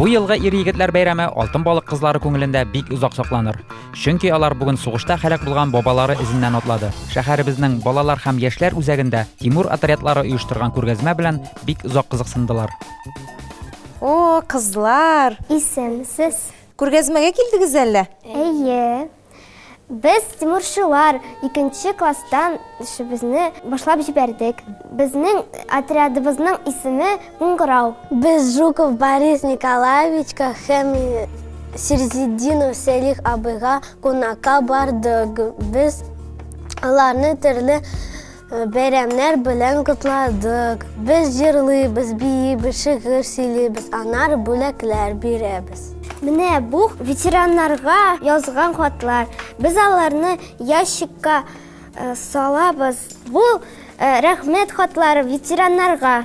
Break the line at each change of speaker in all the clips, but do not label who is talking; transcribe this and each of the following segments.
Бу елгы ир-егетләр бәйрәме Алтын балык кызлары күңелендә бик озак сакланыр. Чөнки алар бүген сугышта һәлак булган бабалары эзеннән атлады. Шәһәребезнең балалар һәм яшьләр үзәгендә Тимур отрядлары оештырган күргәзмә белән бик озак кызыксындылар.
О, кызлар! Исәнмесез!
Күргәзмәгә
килдегез әллә? Әйе.
Без тимурчылар икенче класстан эшебезне башлап җибәрдек. Безнең отрядыбызның исеме Куңгырау. Без Жуков
Борис Николаевичка һәм Сирзетдинов Сәлих абыйга кунакка бардык. Без аларны төрле Бәйрәмнәр белән котладык. Без җырлыйбыз, биибез, шигырь сөйлибез, анар бүләкләр бирәбез. Менә бу
ветераннарга язган хатлар. Без аларны ящикка салабыз. Бу рәхмәт хатлары ветераннарга.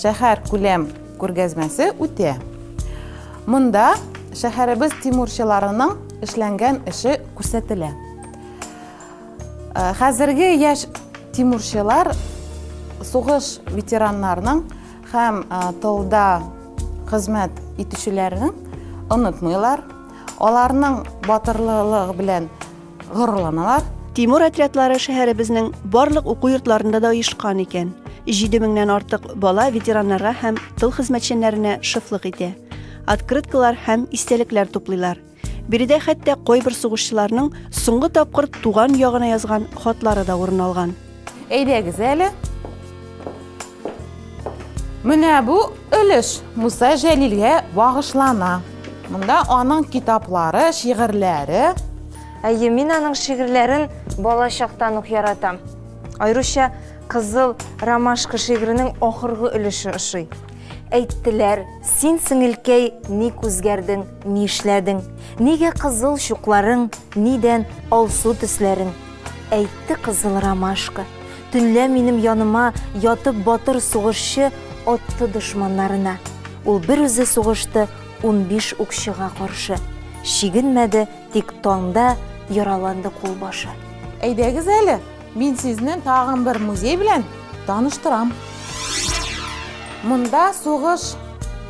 Шәһәркүләм күргәзмәсе үтә. Монда шәһәребез тимурчыларының эшләнгән эше күрсәтелә. Э, хәзерге яшь тимурчылар сугыш ветераннарының һәм э, тылда хезмәт итүчеләрнең онытмыйлар. Аларның батырлыгы белән горурланалар. Тимур отрядлары
шәһәребезнең барлык уку йортларында да оешкан икән. Җиде меңнән артык бала ветераннарга һәм тыл хезмәтчәннәренә шыфлык итә. Открыткалар һәм истәлекләр туплыйлар. Биредә хәтта кайбер сугышчыларның соңгы тапкыр туган ягына язган хатлары да урын алган. Әйдәгез
әле. Менә бу өлеш Муса Җәлилгә багышлана. Монда аның китаплары, шигырьләре. Әйе,
мин аның шигырьләрен бала чактан ук яратам. Аеруча Кызыл ромашка шигыренең ахыргы өлеше ошый. Әйттеләр, син сеңелкәй ник үзгәрдең, ни эшләдең? Нигә кызыл чукларың, нидән алсу төсләрең? Әйтте кызыл ромашка, Төнлә минем яныма ятып батыр сугышчы атты дошманнарына. Ул бер үзе сугышты унбиш укчыга каршы. Чигенмәде, тик таңда яраланды кулбашы. Әйдәгез
әле, мин сезне тагын бер музей белән таныштырам. Монда сугыш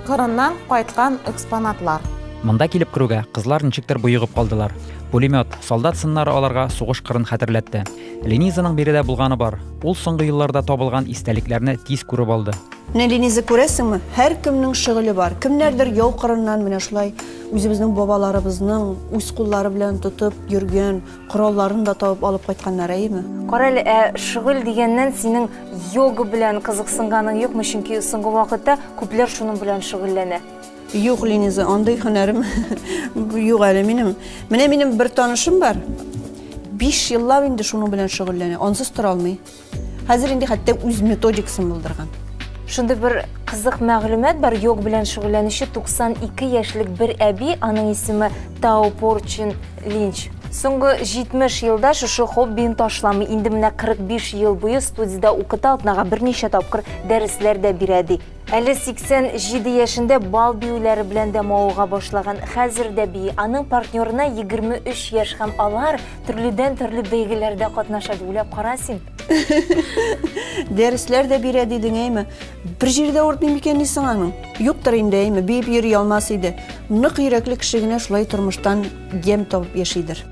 кырыннан кайткан экспонатлар. Монда килеп
керүгә, кызлар ничектер боегып калдылар. Пулемет, солдат сыннары аларга сугыш кырын хәтерләтте. Ленизаның биредә булганы бар. Ул соңгы елларда табылган истәлекләрне тиз күреп алды. Менә Лениза
күрәсеңме? Һәркемнең шөгыле бар. Кемнәрдер яу кырыннан менә шулай үзебезнең бабаларыбызның үз куллары белән тотып йөргән коралларын да табып алып кайтканнар, әйеме? Кара әле, ә
шөгыль дигәннән синең йога белән кызыксынганың юкмы? Чөнки соңгы вакытта күпләр шуның белән шөгыльләнә. Юк, Лениза,
андый һөнәрем юк әле минем. Менә минем бер танышым бар. 5 еллап инде шуның белән шөгыльләнә. Ансыз тора алмый. Хәзер инде хәтта үз методикасын булдырган. Шундый бер
кызык мәгълүмат бар, йог белән шөгыльләнүче 92 яшьлек бер әби, аның исеме Тао Порчин Линч. Соңгы 70 елда шушы хоббиен ташламый, инде менә 45 ел буе студиядә укыта, атнага берничә тапкыр дәресләр дә бирә ди. Әле 87 яшендә бал биюләре белән дә мавыга башлаган, хәзер дә бии. Аның партнерына 23 яшь һәм алар төрледән-төрле бәйгеләрдә катнаша, дип уйлап кара син. Дәресләр
дә бирә дидең, әйме? Бер җирдә уртмый микән ни соң аның? Юктыр инде, әйме, биеп йөри алмас иде. Нык йөрәкле кеше генә шулай тормыштан ямь табып яшидер.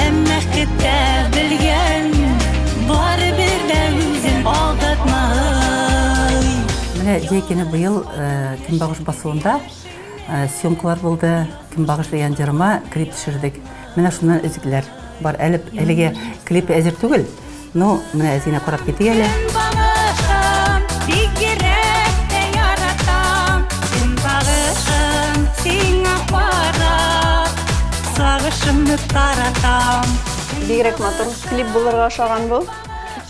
Әмма китә белгән, бары бер дә үзен алдатма. Менә Җәйкене
быел э, Көнбагыш басуында э, съемкалар булды. Көнбагыш дигән җырыма клип төшердек. Менә шуннан өзекләр бар. Әле әлегә клип әзер түгел. Ну, менә әтине карап китик әле.
Сагышымны таратам. Бигрәк
матур клип булырга ошаган бу.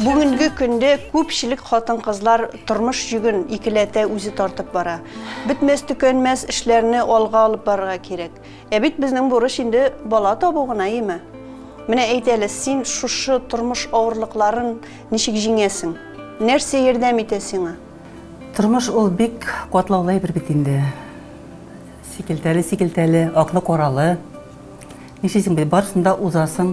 Бүгенге көндә күпчелек хатын-кызлар тормыш йөген икеләтә үзе тартып бара. Бетмәс төкәнмәс эшләрне алга алып барырга кирәк. Ә бит безнең бурыч инде бала табу гына име? Менә әйт әле, син шушы тормыш авырлыкларын ничек җиңәсең? Нәрсә ярдәм итә сиңа? Тормыш
ул бик катлаулы әйбер бит инде. Сикелтәле-сикелтәле, аклы-каралы. Нишлисең бит, барысында узасың.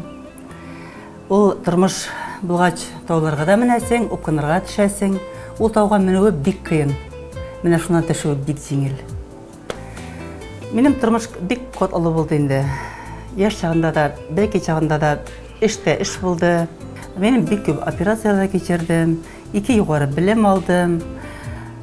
Ул тормыш булгач, тауларга да менәсең, упкынырга төшәсең. Ул тауга менүе бик кыен. Менә шуннан төшүе бик җиңел. Минем тормыш бик катлаулы булды инде. Яш чагында да, бәлки чагында да эш тә эш булды. Мин бик күп операцияләр кичердем, ике югары белем алдым.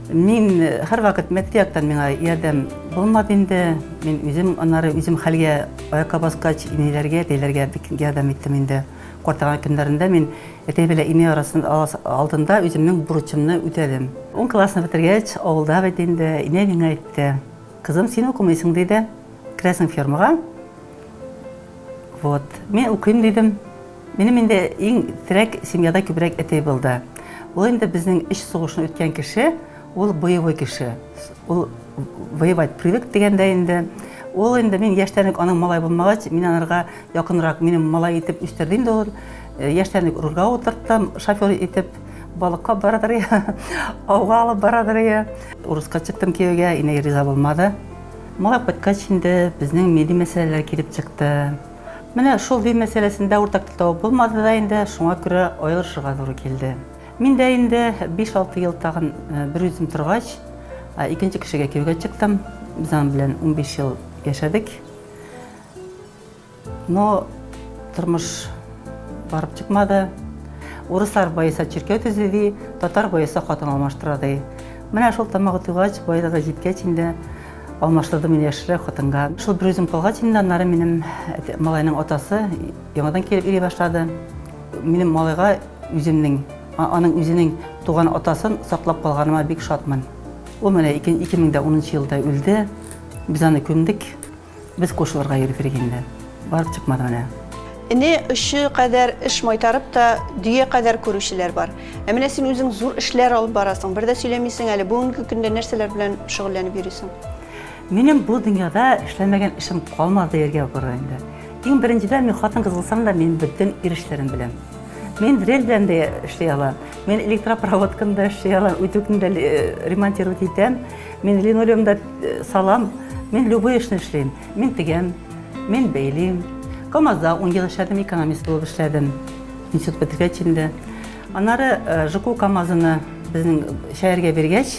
Мин һәр вакыт мәдди яктан миңа ярдәм булмады инде. Мин үзем аннары үзем хәлгә аякка баскач, иниләргә, әтиләргә бик ярдәм иттем инде. Картайган көннәрендә мин әти белән ине арасында алдында үземнең бурычымны үтәдем. Ун классны бетергәч, авылда бит инде инә миңа әйтте. Кызым, син укымыйсың диде. Керәсең фермага. Вот. Мин укыйм дидем. Минем инде иң терәк семьяда күбрәк әти булды. Ул инде безнең өч сугышны үткән кеше. Ул боевой кеше. Ул воевать привык дигәндә инде. Ул инде мин яшьтәнек аның малай булмагач, мин анарга якынрак минем малай итеп үстердем инде ул. Э, яшьтәнек рульга утырттым, шофер итеп балыкка барадыр я, ауга алып барадыр я. Урыска чыктым кияүгә, инәгә риза булмады. Малай кайткач инде безнең милли мәсьәләләр килеп чыкты. Менә шул дин мәсьәләсендә уртак тел табып булмады да инде, шуңа күрә аерылышырга туры килде. Мин дә инде биш-алты ел тагын берүзем торгач, икенче кешегә кияүгә чыктым. Без аның белән унбиш ел яшәдек. Но тормыш барып чыкмады. Урыслар баеса чиркәү төзи ди, татар баеса хатын алмаштыра ди. Менә шул тамагы туйгач, баеда да җиткәч инде алмаштырдым мин яшьрәк хатынга. Шул бер үзем калгач инде аннары минем малайның атасы яңадан килеп йөри башлады. Минем малайга Үземнең, аның үзенең туган атасын саклап калганыма бик шатмын. Ул менә 2010 елда үлде, без аны күмдек, без кушылырга йөрдек инде. Барып чыкмады менә. Эне очы
кадәр эш майтарып та, дөя кадәр күрүчеләр бар. Ә менә син үзең зур эшләр алып барасың, бер дә сөйләмисең әле, бүгенге көндә нәрсәләр белән шөгыльләнеп йөрисең? Минем бу
дөньяда эшләмәгән эшем калмады дияргә булыр инде. Иң беренчедән, мин хатын-кыз булсам да, мин бөтен ир эшләрен беләм. Мин дрель белән дә эшли алам. Мин электропроводканы да эшли алам, үтүкне дә э, ремонтировать итәм. Мин линолеум да э, салам. Мин любой эшне эшлим. Мин тегәм, мин бәйлим. КАМАЗда 10 ел эшләдем, экономист булып эшләдем. Институт бетергәч инде. Анары э, ЖКУ КАМАЗына безнең шәһәргә биргәч,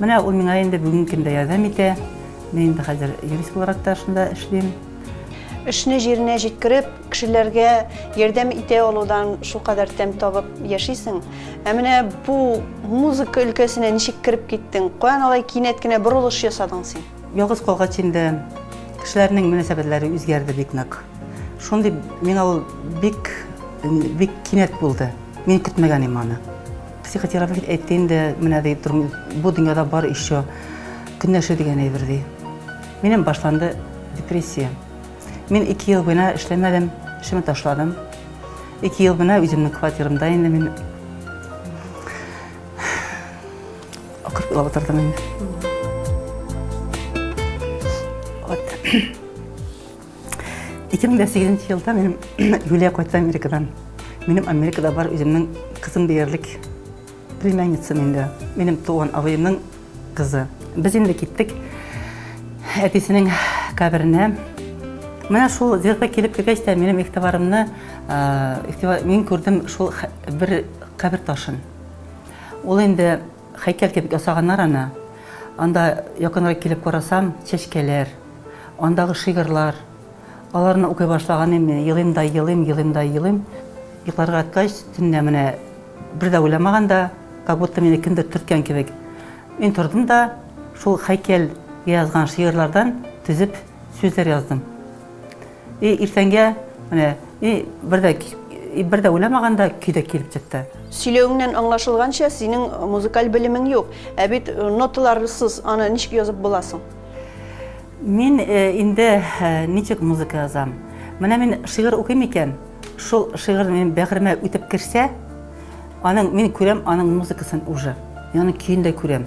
Менә ул миңа инде бүгенге көндә ярдәм итә. Мин инде хәзер юрист буларак та шунда эшлим. Эшне
җиренә җиткереп, кешеләргә ярдәм итә алудан шулкадәр тәм табып яшисең. Ә менә бу музыка өлкәсенә ничек кереп киттең? Каян алай кинәт кенә борылыш ясадың син? Ялгыз калгач инде
кешеләрнең мөнәсәбәтләре үзгәрде бик нык. Шундый миңа ул бик бик кинәт булды. Мин көтмәгән идем аны. Психотерапевт бит әйтте инде, менә ди, бу дөньяда бар еще көнләшү дигән әйбер ди. Минем башланды депрессия. Мин ике ел буена эшләмәдем, эшемне ташладым. Ике ел буена үземнең квартирамда инде мин акырып елап утырдым инде. Вот. 2008 елда минем Юлия кайтты Америкадан. Минем Америкада бар үземнең кызым диярлек племянницам инде. Минем туган абыемның кызы. Без инде киттек әбисенең каберенә. Менә шул зирга килеп кергәч тә минем игътибарымны мин күрдем шул бер кабер ташын. Ул инде Хәйкәл кебек ясаганнар аны. Анда якынрак килеп карасам, чәчкәләр, андагы шигырьләр. Аларны укый башлаганым, елыйм да елыйм, елыйм да елыйм. Йокларга яткач, төнлә менә бер дә уйламаган да, как будто мине кемдер төрткән кебек. Мин тордым да, шул хәйкәл язган шигырьләрдән төзеп, сүзләр яздым. И иртәнгә менә и бердә бердә уйламаганда көйдә килеп чыкты. Сөйләвеңнән
аңлашылганча, синең музыкаль белемең юк. Ә бит э, ноталарсыз аны ничек язып буласың?
Мин э, инде э, ничек музыка язам? Менә мин шигырь укыйм икән, шул шигырь минем бәгыремә үтеп керсә, аның мин күрәм аның музыкасын уже. Яны көен дә күрәм.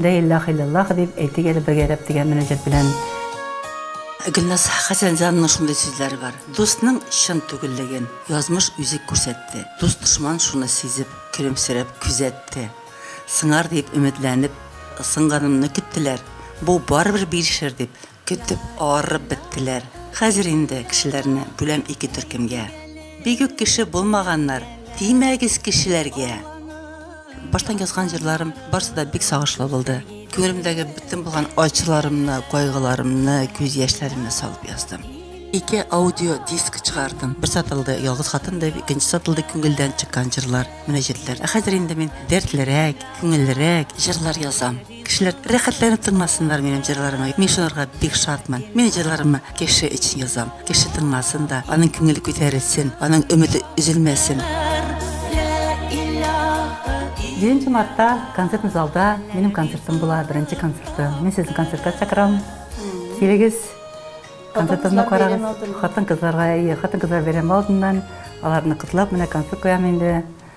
Лә иләһ иләллаһ дип әйтик әле бергә рәп дигән мөнәҗәт белән.
Гөлназ Хәсәнҗанның шундый сүзләре бар, Дустның чын түгеллеген язмыш үзе күрсәтте. Дус-дошман шуны сизеп, көлемсерәп күзәтте. Сыңар дип өметләнеп, сынганымны көттеләр. Бу барыбер бирешер дип, Көтеп, арып беттеләр. Хәзер инде кешеләрне бүләм ике төркемгә. Бик үк кеше булмаганнар, тимәгез кешеләргә! Баштан язган җырларым барсы да бик сагышлы булды. Күңелемдәге бөтен булган ачуларымны, кайгыларымны, күз яшьләремне салып яздым. Ике аудио диск чыгардым. Бер сатылды Ялгыз хатын дип, икенче сатылды Күңелдән чыккан җырлар, мөнәҗәтләр. Ә хәзер инде мин дәртлерәк, күңеллерәк җырлар язам. Кешеләр рәхәтләнеп тыңласыннар минем җырларымны. Мин шуларга бик шатмын. Мин җырларымны кеше өчен язам. Кеше тыңласын да, аның күңеле күтәрелсен, аның өмете өзелмәсен.
Җиденче мартта концертный залда минем концертым була, беренче концертым. Мин сезне концертка чакырам. Килегез, концертымны карагыз. Хатын-кызларга, әйе, хатын-кызлар бәйрәме алдыннан аларны котлап, менә концерт куям инде.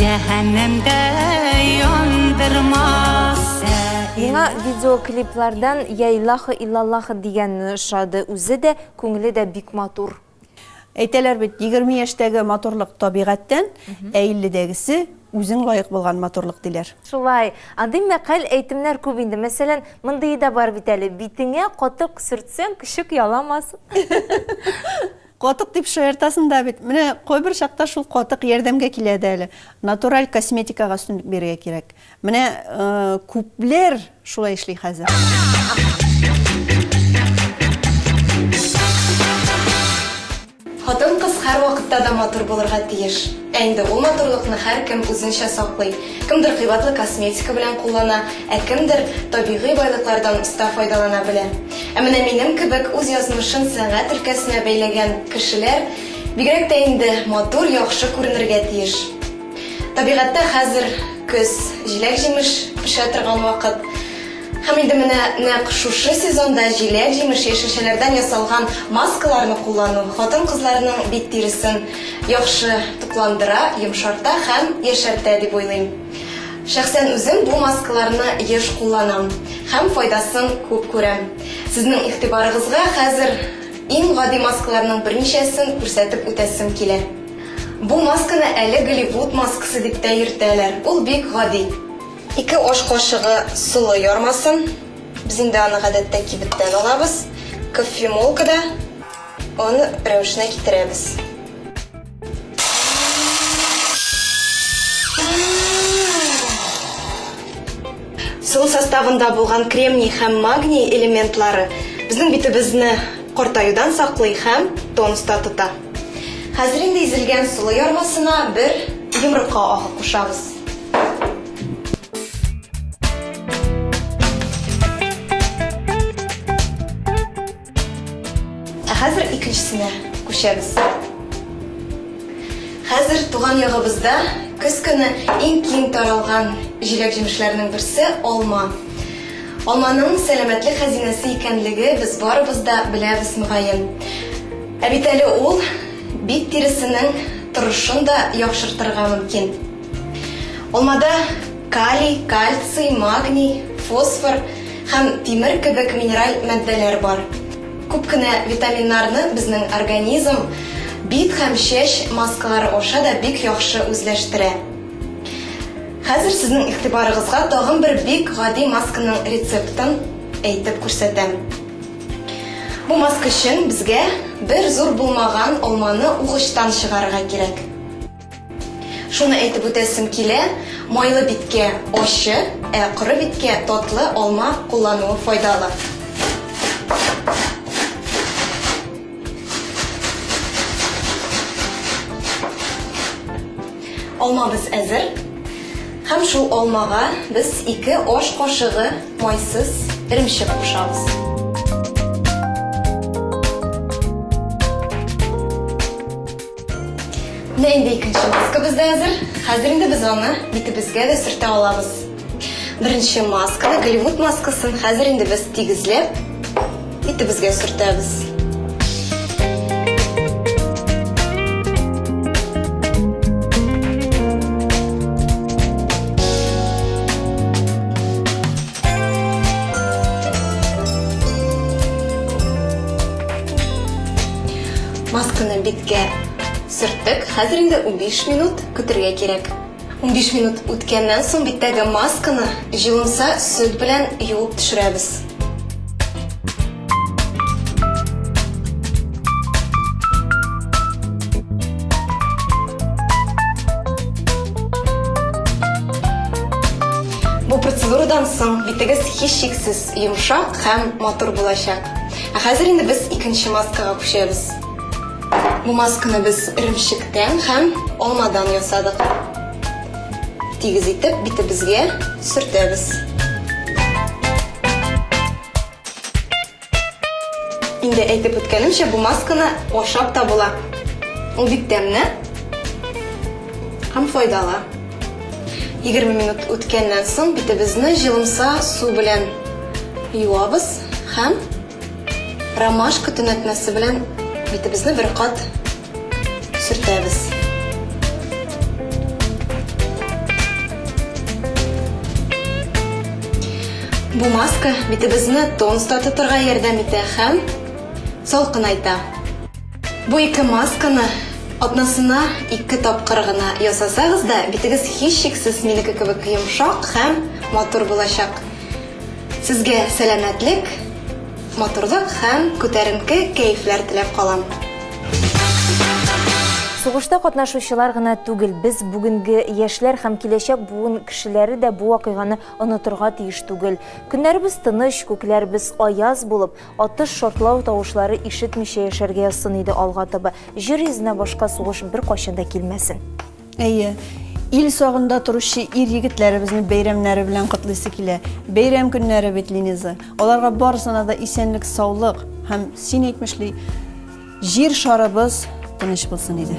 Җәһәннәмдә яндырмас. Миңа
видеоклиплардан Я Илаха Илаллаха дигәне ошады, үзе дә, күңеле дә бик матур. Әйтәләр
бит, егерме яшьтәге матурлык табигатьтән, ә илледәгесе үзең лаек булган матурлык, диләр. Шулай. Андый
мәкаль, әйтемнәр күп инде. Мәсәлән, мондые да бар бит әле, Битеңә катык сөртсәң, көчек яламас.
Катык дип шаяртасың да бит. Менә кайбер чакта шул катык ярдәмгә килә дә әле. Натураль косметикага өстенлек бирергә кирәк. Менә күпләр шулай эшли хәзер.
Хатын-кыз һәрвакытта да матур булырга тиеш. Ә инде ул матурлыкны һәркем үзенчә саклый. Кемдер кыйбатлы косметика белән куллана, ә кемдер табигый байлыклардан оста файдалана белә. Ә менә минем кебек үз язмышын сәнгать өлкәсенә бәйләгән кешеләр бигрәк тә инде матур, яхшы күренергә тиеш. Табигатьтә хәзер көз, җиләк-җимеш пешә торган вакыт. Һәм инде менә нәкъ шушы сезонда җиләк-җимеш яшелчәләрдән ясалган маскаларны куллану хатын-кызларның бит тиресен яхшы тукландыра, йомшарта һәм яшәртә дип уйлыйм. Шәхсән үзем бу маскаларны еш кулланам һәм файдасын күп күрәм. Сезнең игътибарыгызга хәзер иң гади маскаларның берничәсен күрсәтеп үтәсем килә. Бу масканы әле Голливуд маскасы дип тә йөртәләр, ул бик гади. Ике аш кашыгы солы ярмасын. Без инде аны гадәттә кибеттән алабыз. Кофемолкада аны рәвешенә китерәбез. Сул составында булган кремний һәм магний элементлары безнең битебезне картаюдан саклый һәм тонуста тота. Хәзер инде изелгән сулы ярмасына бер йомырка агы кушабыз. Хәзер икенчесенә күчәбез. Хәзер туган ягыбызда көз көне иң киң таралган җиләк-җимешләрнең берсе алма. Алманың сәламәтлек хәзинәсе икәнлеге без барыбыз да беләбез мөгаен. Ә бит әле ул Бит тиресенең торышын да яхшыртырга мөмкин. Алмада калий, кальций, магний, фосфор һәм тимер кебек минераль матдәләр бар. Күп кенә витаминнарны безнең организм бит һәм чәч маскалары аша да бик яхшы үзләштерә. Хәзер сезнең игътибарыгызга тагын бер бик гади масканың рецептын әйтеп күрсәтәм. Бу маска өчен безгә бер зур булмаган алманы угычтан чыгарырга кирәк. Шуны әйтеп үтәсем килә, майлы биткә ачы, ә коры биткә татлы алма куллануы файдалы. Алмабыз әзер. Һәм шул алмага без ике аш кашыгы Майсыз эремчек кушабыз. Менә инде икенче маскабыз да әзер. Хәзер инде без аны битебезгә дә сөртә алабыз. Беренче масканы, Голливуд маскасын, хәзер инде без тигезләп Итебезгә сөртәбез. Масканы биткә сөрттек. Хәзер инде унбиш минут көтергә кирәк. Унбиш минут үткәннән соң биттәге масканы җылымса сөт белән юып төшерәбез. Бу процедурадан соң битегез һичшиксез йомшак һәм матур булачак. Ә хәзер инде без икенче маскага күчәбез. Бу масканы без эремчектән һәм алмадан ясадык. Тигез итеп битебезгә сөртәбез. Инде әйтеп үткәнемчә, бу масканы ашап та була. Ул бик тәмле һәм файдалы. 20 минут үткәннән соң битебезне җылымса су белән юабыз һәм Ромашка төнәтмәсе белән битебезне бер кат сөртәбез. Бу маска битебезне тонуста тотырга ярдәм итә һәм салкынайта. Бу ике масканы атнасына ике тапкыр гына ясасагыз да, битегез һичшиксез минеке кебек йомшак һәм матур булачак. Сезгә сәламәтлек, матурлык һәм күтәренке кәефләр теләп калам.
Сугышта катнашучылар гына түгел, без бүгенге яшьләр һәм киләчәк буын кешеләре дә бу вакыйганы онытырга тиеш түгел. Көннәребез тыныч, күкләребез аяз булып, атыш, шартлау тавышлары ишетмичә яшәргә язсын иде алга таба. Җир йөзенә башка сугыш беркайчан да килмәсен. Әйе,
ил сагында торучы ир-егетләребезне бәйрәмнәре белән котлыйсы килә. Бәйрәм көннәре бит, Линиза. Аларга барысына да исәнлек, саулык һәм син әйтмешли, җир шарыбыз тыныч булсын иде.